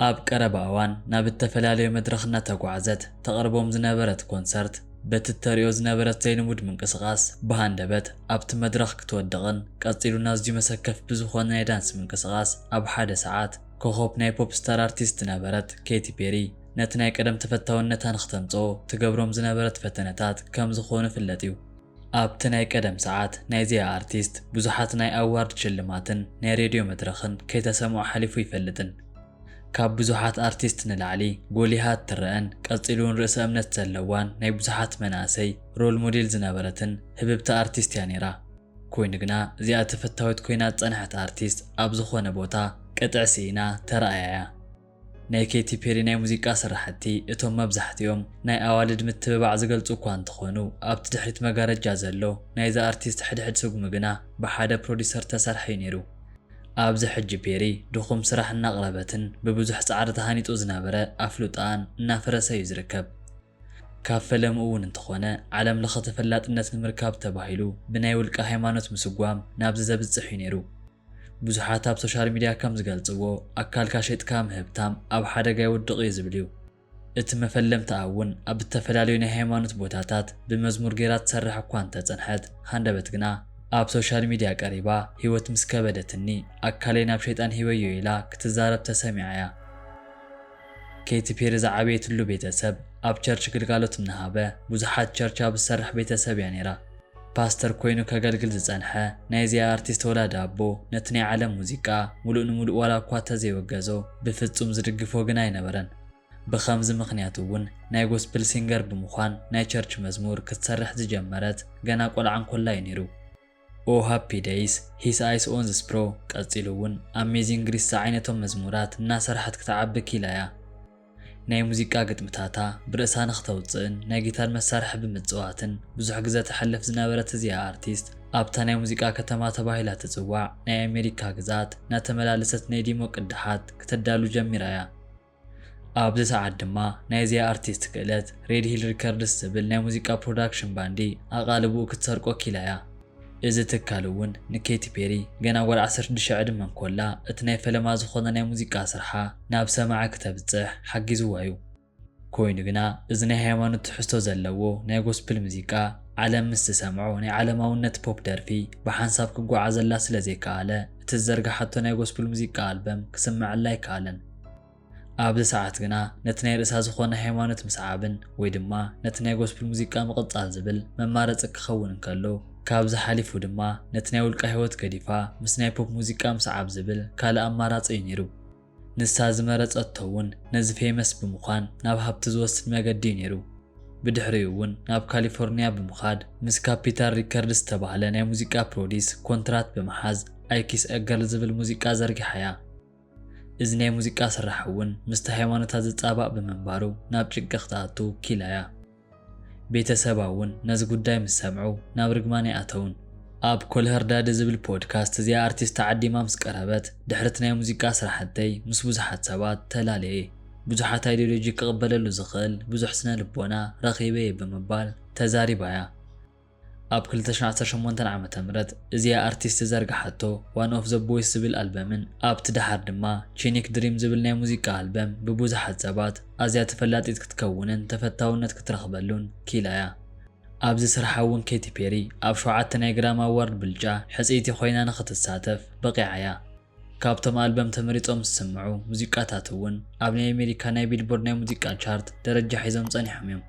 ኣብ ቀረባ እዋን ናብ እተፈላለዩ መድረኽ እናተጓዕዘት ተቕርቦም ዝነበረት ኮንሰርት፣ በቲ እተርእዮ ዝነበረት ዘይንቡድ ምንቅስቓስ ብሃንደበት ኣብቲ መድረኽ ክትወድቕን ቀጺሉን ኣዝዩ መሰከፊ ብዝኾነ ናይ ዳንስ ምንቅስቓስ ኣብ ሓደ ሰዓት ኮኾብ ናይ ፖፕ ስታር ኣርቲስት ዝነበረት ኬቲ ፔሪ ነቲ ናይ ቀደም ተፈታውነታ ንክተምጽኦ ትገብሮም ዝነበረት ፈተነታት ከም ዝኾኑ ይፍለጥ እዩ። ኣብቲ ናይ ቀደም ሰዓት ናይዚኣ ኣርቲስት ብዙሓት ናይ ኣዋርድ ሽልማትን ናይ ሬድዮ መድረኽን ከይተሰምዖ ሓሊፉ ኣይፈልጥን። ካብ ብዙሓት ኣርቲስት ንላዕሊ ጎሊሃ እትረኣን ቀጺሉ ውን ርእሰ እምነት ዘለዋን ናይ ብዙሓት መናእሰይ ሮል ሞዴል ዝነበረትን ህብብቲ ኣርቲስት እያ ኔራ። ኮይኑ ግና እዚኣ ተፈታዊት ኮይና ዝጸንሐት ኣርቲስት ኣብ ዝኾነ ቦታ ቅጥዒ ስኢና ተራእያ እያ። ናይ ኬቲ ፔሪ ናይ ሙዚቃ ስራሕቲ እቶም መብዛሕቲኦም ናይ ኣዋልድ ምትብባዕ ዝገልጹ እኳ እንተኾኑ፣ ኣብቲ ድሕሪት መጋረጃ ዘሎ ናይዛ ኣርቲስት ሕድሕድ ስጉሚ ግና ብሓደ ፕሮዲዩሰር ዝተሰርሐ'ዩ ነይሩ። ኣብዚ ሕጂ ፔሪ ድኹም ስራሕ እናቕረበትን ብብዙሕ ጻዕሪ ተሃኒጹ ዝነበረ ኣፍልጦኣን እናፈረሰ'ዩ ዝርከብ። ካብ ፈለምኡ እውን እንተኾነ ዓለም ለኸ ተፈላጥነት ንምርካብ ተባሂሉ ብናይ ውልቀ ሃይማኖት ምስጓም ናብዚ ዘብጽሕ'ዩ ነይሩ። ብዙሓት ኣብ ሶሻል ሚድያ ከም ዝገልፅዎ ኣካልካ ሸይጥካ ምህብታም ኣብ ሓደጋ የውድቕ እዩ ዝብል እዩ። እቲ መፈለምታኣ እውን ኣብ እተፈላለዩ ናይ ሃይማኖት ቦታታት ብመዝሙር ገይራ ትሰርሕ እኳ እንተፀንሐት ሃንደበት ግና ኣብ ሶሻል ሚድያ ቀሪባ ህይወት ምስ ከበደትኒ ኣካለይ ናብ ሸይጣን ሂበዮ ኢላ ክትዛረብ ተሰሚዓ እያ። ኬቲ ፔሪ ዝዓበየትሉ ቤተሰብ ኣብ ቸርች ግልጋሎት እናሃበ ብዙሓት ቸርች ኣብ ዝሰርሕ ቤተሰብ እያ ነይራ። ፓስተር ኮይኑ ከገልግል ዝጸንሐ ናይዚኣ ኣርቲስት ወላዲ ኣቦ ነቲ ናይ ዓለም ሙዚቃ ምሉእ ንምሉእ ዋላ እኳ ተዘይወገዞ ብፍጹም ዝድግፎ ግን ኣይነበረን። ብኸምዚ ምኽንያት እውን ናይ ጎስፕል ሲንገር ብምዃን ናይ ቸርች መዝሙር ክትሰርሕ ዝጀመረት ገና ቆልዓ እንኮላ እዩ ነይሩ። ኦህ ሃፒ ደይስ ሂስ ኣይስ ኦን ዝስ ብሮ ቀጺሉ ውን ኣሜዚንግ ግሪስ ዝዓይነቶም መዝሙራት እናሰርሐት ክትዓቢ ኪኢላ እያ ናይ ሙዚቃ ግጥምታታ ብርእሳ ንክተውጽእን ናይ ጊታር መሳርሒ ብምጽዋትን ብዙሕ ግዘ ተሕልፍ ዝነበረት እዚኣ ኣርቲስት ኣብታ ናይ ሙዚቃ ከተማ ተባሂላ ትጽዋዕ ናይ ኣሜሪካ ግዝኣት እናተመላለሰት ናይ ዲሞ ቅዳሓት ክተዳሉ ጀሚራ እያ ኣብዚ ሰዓት ድማ ናይዚኣ ኣርቲስት ክእለት ሬድ ሂል ሪከርድስ ዝብል ናይ ሙዚቃ ፕሮዳክሽን ባንዲ ኣቓልቦኡ ክትሰርቆ ኪኢላ እያ። እዚ ትካል እውን ንኬቲ ፔሪ ገና ጓል ዓሰርተ ሽዱሽተ ዕድመ እንኮላ እቲ ናይ ፈለማ ዝኾነ ናይ ሙዚቃ ስርሓ ናብ ሰማዒ ክተብጽሕ ሓጊዝዋ እዩ። ኮይኑ ግና እዚ ናይ ሃይማኖት ትሕዝቶ ዘለዎ ናይ ጎስፕል ሙዚቃ ዓለም ምስ ትሰምዖ ናይ ዓለማውነት ፖፕ ደርፊ ብሓንሳብ ክጓዓዘላ ስለ ዘይከኣለ እቲ ዝዘርግሓቶ ናይ ጎስፕል ሙዚቃ ኣልበም ክስመዐላ ኣይከኣለን። ኣብዚ ሰዓት ግና ነቲ ናይ ርእሳ ዝኾነ ሃይማኖት ምስዓብን ወይ ድማ ነቲ ናይ ጎስፕል ሙዚቃ ምቕጻል ዝብል መማረጺ ክኸውን እንከሎ ካብዚ ሓሊፉ ድማ ነቲ ናይ ውልቃ ህይወት ገዲፋ ምስ ናይ ፖፕ ሙዚቃ ምስዓብ ዝብል ካልእ ኣማራጺ እዩ ነይሩ። ንሳ ዝመረጸቶ እውን ነዚ ፌመስ ብምዃን ናብ ሃብቲ ዝወስድ መገዲ እዩ ነይሩ። ብድሕሪኡ እውን ናብ ካሊፎርንያ ብምኻድ ምስ ካፒታል ሪከርድስ ዝተባህለ ናይ ሙዚቃ ፕሮዲስ ኮንትራት ብምሓዝ ኣይ ኪስ አ ገርል ዝብል ሙዚቃ ዘርጊሓ እያ። እዚ ናይ ሙዚቃ ስራሕ እውን ምስቲ ሃይማኖታ ዝጻባእ ብምንባሩ ናብ ጭንቂ ክትኣቱ ኪላያ። ቤተ ሰባ እውን ነዚ ጉዳይ ምስ ሰምዑ ናብ ርግማነይ ኣተውን። ኣብ ኮልሀርዳደ ዝብል ፖድካስት እዚኣ ኣርቲስት ተዓዲማ ምስ ቀረበት ድሕርቲ ናይ ሙዚቃ ስራሕተይ ምስ ብዙሓት ሰባት ተላለየ። ብዙሓት ኣይዲዮሎጂ ክቕበለሉ ዝኽእል ብዙሕ ስነ ልቦና ረኺበ እየ ብምባል ተዛሪባያ። ኣብ ክልተ ሽሕን ዓሰርተ ሸሞንተን ዓመተ ምህረት እዚኣ ኣርቲስት ዝዘርግሓቶ ዋን ኦፍ ዘ ቦይስ ዝብል ኣልበምን ኣብቲ ደሓር ድማ ቺኒክ ድሪም ዝብል ናይ ሙዚቃ ኣልበም ብቡዙሓት ሰባት ኣዝያ ተፈላጢት ክትከውንን ተፈታውነት ክትረኽበሉን ኪኢላ'ያ። ኣብዚ ስርሓ እውን ኬቲ ፔሪ ኣብ ሸውዓተ ናይ ግራሚ ኣዋርድ ብልጫ ሕጽይቲ ኮይና ንኽትሳተፍ በቒዓ'ያ። ካብቶም ኣልበም ተመሪጾም ዝስምዑ ሙዚቃታት እውን ኣብ ናይ ኣሜሪካ ናይ ቢልቦርድ ናይ ሙዚቃ ቻርት ደረጃ ሒዞም ጸኒሖም'ዮም።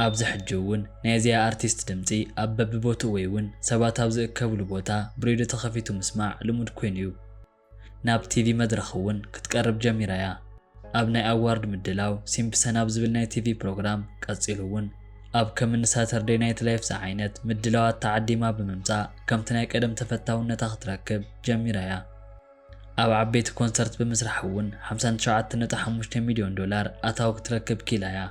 ኣብዚ ሕጂ እውን ናይ እዚኣ ኣርቲስት ድምጺ ኣብ በብቦትኡ ወይ እውን ሰባት ኣብ ዝእከብሉ ቦታ ብሬድዮ ተኸፊቱ ምስማዕ ልሙድ ኮይኑ እዩ። ናብ ቲቪ መድረኽ እውን ክትቀርብ ጀሚራ እያ። ኣብ ናይ ኣዋርድ ምድላው ሲምፕሰን ኣብ ዝብል ናይ ቲቪ ፕሮግራም ቀጺሉ እውን ኣብ ከም እኒ ሳተርደይ ናይት ላይፍ ዝዓይነት ምድላዋት ተዓዲማ ብምምጻእ ከምቲ ናይ ቀደም ተፈታውነታ ክትረክብ ጀሚራ እያ። ኣብ ዓበይቲ ኮንሰርት ብምስራሕ እውን ሓምሳን ትሽዓተ ነጥቢ ሓሙሽተ ሚልዮን ዶላር ኣታዊ ክትረክብ ክኢላ እያ።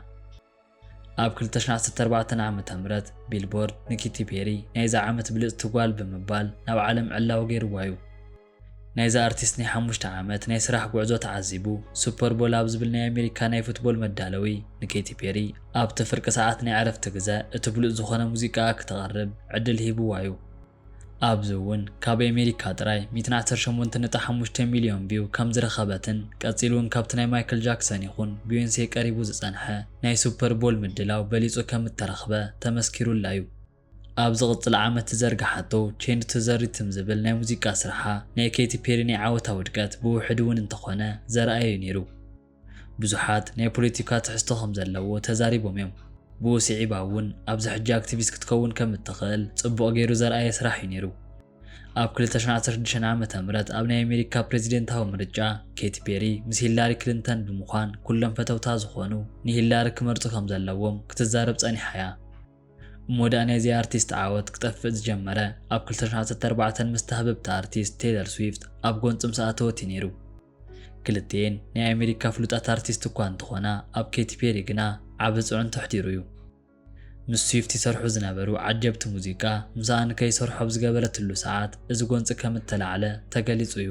ኣብ ክልተ ሽሕ ዓሰርተ ኣርባዕተ ዓመተ ምህረት ቢልቦርድ ንኪቲ ፔሪ ናይዛ ዓመት ብልጽቲ ጓል ብምባል ናብ ዓለም ዕላዊ ገይርዋ እዩ። ናይዛ ኣርቲስት ናይ ሓሙሽተ ዓመት ናይ ስራሕ ጉዕዞ ተዓዚቡ ሱፐር ቦል ኣብ ዝብል ናይ ኣሜሪካ ናይ ፉትቦል መዳለዊ ንኬቲ ፔሪ ኣብቲ ፍርቂ ሰዓት ናይ ዕረፍቲ ግዘ እቲ ብሉጽ ዝኾነ ሙዚቃኣ ክተቕርብ ዕድል ሂብዋ እዩ። ኣብዚ እውን ካብ ኤሜሪካ ጥራይ ሚእትን ዓሰርተ ሸሞንተን ነጥቢ ሓሙሽተ ሚልዮን ቪው ከም ዝረኸበትን ቀጺሉ እውን ካብቲ ናይ ማይክል ጃክሰን ይኹን ቢዮንሴ ቀሪቡ ዝጸንሐ ናይ ሱፐር ቦል ምድላው በሊጹ ከም እተረኽበ ተመስኪሩላ እዩ። ኣብ ዝቕጽል ዓመት ዝዘርግሓቶ ቼንድ ቱ ዘ ሪትም ዝብል ናይ ሙዚቃ ስርሓ ናይ ኬቲ ፔሪ ናይ ዓወታ ውድቀት ብውሕዱ እውን እንተኾነ ዘርኣየ እዩ ነይሩ። ብዙሓት ናይ ፖለቲካ ትሕዝቶ ከም ዘለዎ ተዛሪቦም እዮም። ብኡ ስዒባ እውን ኣብዚ ሕጂ ኣክቲቪስት ክትከውን ከም እትኽእል ጽቡቕ ገይሩ ዘርኣየ ስራሕ እዩ ነይሩ። ኣብ ክልተ ሽሕን ዓሰርተ ሽዱሽተን ዓመተ ምህረት ኣብ ናይ ኣሜሪካ ፕረዚደንታዊ ምርጫ ኬቲ ፔሪ ምስ ሂላሪ ክሊንተን ብምዃን ኩሎም ፈተውታ ዝኾኑ ንሂላሪ ክመርጹ ከም ዘለዎም ክትዛረብ ጸኒሓ እያ። እሞ ደኣ ናይዚ ኣርቲስት ዓወት ክጠፍእ ዝጀመረ ኣብ ክልተ ሽሕን ዓሰርተ ኣርባዕተን ምስ ተሃብብቲ ኣርቲስት ቴይለር ስዊፍት ኣብ ጎንጽ ምስ ኣተወት እዩ ነይሩ። ክልቲኤን ናይ ኣሜሪካ ፍሉጣት ኣርቲስት እኳ እንተኾና ኣብ ኬቲ ፔሪ ግና ዓቢ ጽዕንቶ ኣሕዲሩ እዩ። ምስ ስዊፍት ይሰርሑ ዝነበሩ ዓጀብቲ ሙዚቃ ምስኣ ንከይሰርሑ ኣብ ዝገበረትሉ ሰዓት እዚ ጎንጺ ከም እተላዕለ ተገሊጹ እዩ።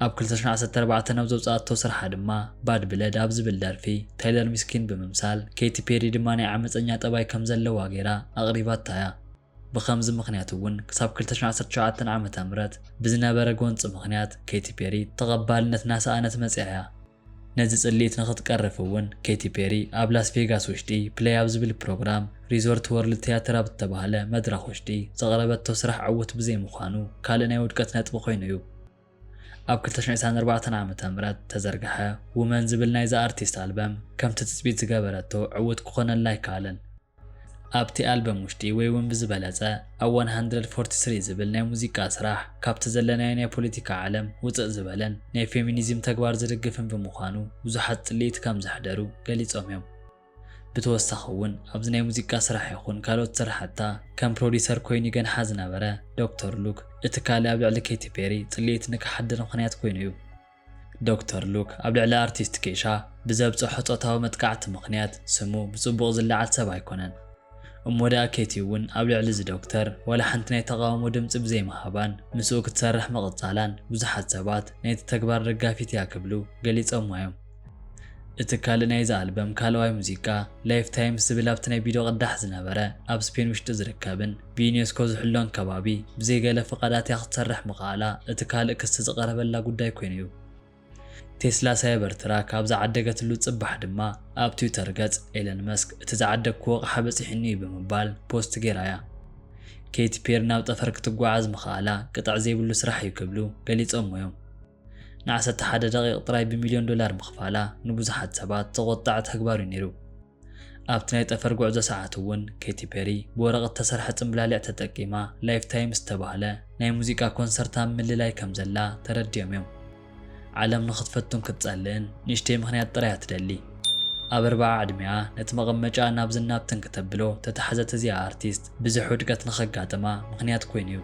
ኣብ ክልተ ሽሕን ዓሰርተ ኣርባዕተን ኣብ ዘውጽኣቶ ስርሓ ድማ ባድ ብለድ ኣብ ዝብል ደርፊ ታይለር ሚስኪን ብምምሳል ኬቲ ፔሪ ድማ ናይ ዓመጸኛ ጠባይ ከም ዘለዋ ገይራ ኣቕሪባታ እያ። ብኸምዚ ምኽንያት እውን ክሳብ ክልተ ሽሕን ዓሰርተ ትሽዓተን ዓመተ ምህረት ብዝነበረ ጎንፂ ምኽንያት ኬቲ ፔሪ ተቐባልነት እናሰኣነት መፂኣ እያ። ነዚ ፅልኢት ንኽትቀርፍ እውን ኬቲ ፔሪ ኣብ ላስ ቬጋስ ውሽጢ ፕለይ ኣብ ዝብል ፕሮግራም ሪዞርት ወርልድ ቲያትር ኣብ ዝተብሃለ መድረኽ ውሽጢ ዘቕረበቶ ስራሕ ዕውት ብዘይምዃኑ ካልእ ናይ ውድቀት ነጥቢ ኮይኑ እዩ። ኣብ ክልተ ሽሕን ዒስራን ኣርባዕተን ዓመተ ምህረት ተዘርገሐ ውመን ዝብል ናይዛ ኣርቲስት ኣልበም ከምቲ ትፅቢት ዝገበረቶ ዕውት ክኾነላ ኣይከኣለን። ኣብቲ ኣልበም ውሽጢ ወይ ውን ብዝበለጸ ኣብ ዋን ሃንድረድ ፎርቲ ስሪ ዝብል ናይ ሙዚቃ ስራሕ ካብቲ ዘለናዮ ናይ ፖለቲካ ዓለም ውጽእ ዝበለን ናይ ፌሚኒዝም ተግባር ዝድግፍን ብምዃኑ ብዙሓት ጽልኢት ከም ዘሕደሩ ገሊጾም ዮም። ብተወሳኺ ውን ኣብዚ ናይ ሙዚቃ ስራሕ ይኹን ካልኦት ስራሕታ ከም ፕሮዲሰር ኮይኑ ይገንሓ ዝነበረ ዶክተር ሉክ እቲ ካልእ ኣብ ልዕሊ ኬቲ ፔሪ ጽልኢት ንክሓድር ምኽንያት ኮይኑ ዩ። ዶክተር ሉክ ኣብ ልዕሊ ኣርቲስት ኬሻ ብዘብጸሖ ጾታዊ መጥቃዕቲ ምኽንያት ስሙ ብጽቡቕ ዝለዓል ሰብ ኣይኮነን። እሞ ደኣ ኬቲ'ውን ኣብ ልዕሊ'ዚ ዶክተር ዋላ ሓንቲ ናይ ተቓውሞ ድምጺ ብዘይምሃባን ምስኡ ክትሰርሕ ምቕጻላን ብዙሓት ሰባት ናይቲ ተግባር ደጋፊት'ያ ክብሉ ገሊጾማ'ዮም። እቲ ካልእ ናይዚ ኣልበም ካልኣዋይ ሙዚቃ፣ ላይፍታይምስ ዝብል ኣብቲ ናይ ቪድዮ ቅዳሕ ዝነበረ ኣብ ስፔን ውሽጢ ዝርከብን፣ ብዩኔስኮ ዝሕሎን ከባቢ ብዘይ ገለ ፍቓዳት እያ ክትሰርሕ ምኽኣላ እቲ ካልእ ክሲ ዝቐረበላ ጉዳይ ኮይኑ እዩ። ቴስላ ሳይበር ትራክ ኣብ ዝዓደገትሉ ጽባሕ ድማ ኣብ ትዊተር ገጽ ኤለን መስክ እቲ ዝዓደግኩዎ ኣቕሓ በጺሑኒ እዩ ብምባል ፖስት ገይራ እያ። ኬቲ ፔሪ ናብ ጠፈር ክትጓዓዝ ምኽኣላ ቅጥዕ ዘይብሉ ስራሕ እዩ ክብሉ ገሊጾሞ እዮም። ንዓሰርተ ሓደ ደቒቕ ጥራይ ብሚልዮን ዶላር ምኽፋላ ንብዙሓት ሰባት ዘቖጠዐ ተግባር እዩ ነይሩ። ኣብቲ ናይ ጠፈር ጉዕዞ ሰዓት እውን ኬቲ ፔሪ ብወረቕት እተሰርሐ ጽምብላሊዕ ተጠቂማ ላይፍ ታይም ዝተባህለ ናይ ሙዚቃ ኮንሰርት ኣብ ምልላይ ከም ዘላ ተረዲኦም እዮም። ዓለም ንኽትፈቱን ክትጸልእን ንእሽተይ ምኽንያት ጥራይ እያ ትደሊ። ኣብ ኣርብዓ ዕድሜኣ ነቲ መቐመጫኣ ናብዝን ናብትን ክተብሎ እተታሕዘት እዚኣ ኣርቲስት፣ ብዘሕ ውድቀት ንኸጋጥማ ምኽንያት ኰይኑ እዩ።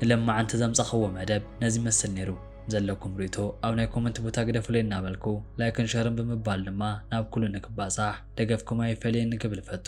ንለማዓንቲ ዘምጻኽዎ መደብ ነዚ ይመስል ነይሩ። ዘለኩም ሪእቶ ኣብ ናይ ኮመንት ቦታ ግደፉለይ እናበልኩ ላይክን ሸርን ብምባል ድማ ናብ ኩሉ ንክባጻሕ ደገፍኩም ኣይፈለየኒ ክብል እፈቱ።